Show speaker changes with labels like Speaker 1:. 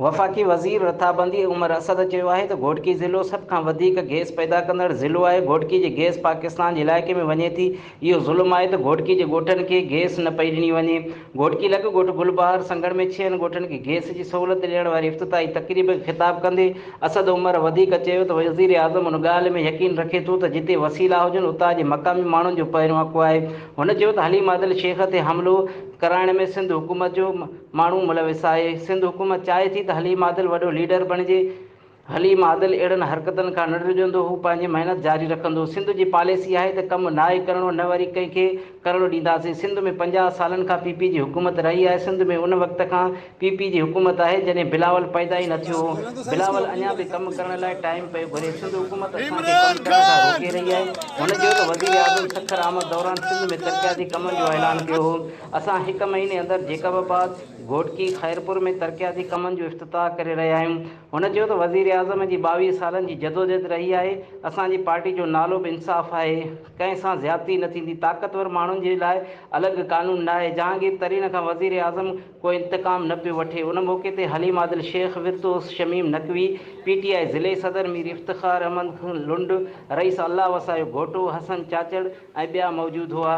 Speaker 1: وفاقي وزير رٿابندي عمر اسد چيو آهي ته گهوٽڪي ضلعو سڀ کان وڌيڪ گئس پيدا ڪندڙ ضلعو آهي، گهوٽڪي جي گئس پاڪستان جي علائقي ۾ وڃي ٿي، اهو ظلم آهي ته گهوٽڪي جي ڳوٺن کي گئس نه پئي ڏني وڃي، گهوٽڪي لڳ ڳوٺ گل بهار سنگهڙ ۾ ڇهن ڳوٺن کي گئس جي سهولت ڏيڻ واري افتتاحي تقريب کي خطاب ڪندي اسد عمر وڌيڪ چيو ته وزيراعظم ان ڳالهه ۾ يقين رکي ٿو ته جتي وسيلا هجن اتان جي مقامي ماڻهن جو پهريون حق آهي، هن چيو ته حليم عادل شيخ تي حملو ڪرائڻ ۾ سنڌ حڪومت جو ماڻهو ملوث آهي، سنڌ حڪومت چاهي ٿي ته حليم عادل وڏو ليڊر بڻجي، حليم عادل اهڙن حرڪتن کان نه ڊڄندو، هو پنهنجي محنت جاري رکندو، سنڌ جي پاليسي آهي ته ڪم ناهي ڪرڻو نه وري ڪنهن کي ڪرڻ ڏينداسين، سنڌ ۾ پنجاهه سالن کان پي پي جي حڪومت رهي آهي، سنڌ ۾ ان وقت کان پي پي جي حڪومت آهي جڏهن بلاول پيدا ئي نه ٿيو هو بلاول اڃا به ڪم ڪرڻ لاء ٽائيم پيو گهري سنڌ حڪومت اسان کي ڪم ڪرڻ کان روڪي رهي آهي هن چيو ته وزيراعظم سکر آمد دوران سنڌ ۾ ترقياتي ڪمن جو اعلان ڪيو هو اسان هڪ مهيني اندر جيڪب آباد گهوٽڪي خيرپور ۾ ترقياتي ڪمن جو افتتاح ڪري رهيا آهيون هن چيو ته وزيراعظم جي ٻاويهه سالن جي جدوجهد رهي آهي اسان جي پارٽي جو نالو به انصاف آهي ڪنهن سان زيادتي نه ٿيندي طاقتور ماڻهن جي لاء الڳ قانون ناهي جهانگير ترين کان وزيراعظم ڪو انتقام نه پيو وٺي ان موقعي تي حليم عادل شيخ، ورتوس Shamim Naqvi, P T I ضلعي صدر مير افتخار احمد لنڊ، رئيس الله وسايو گهوٽو، حسن چاچڙ ۽ ٻيا موجود هئا.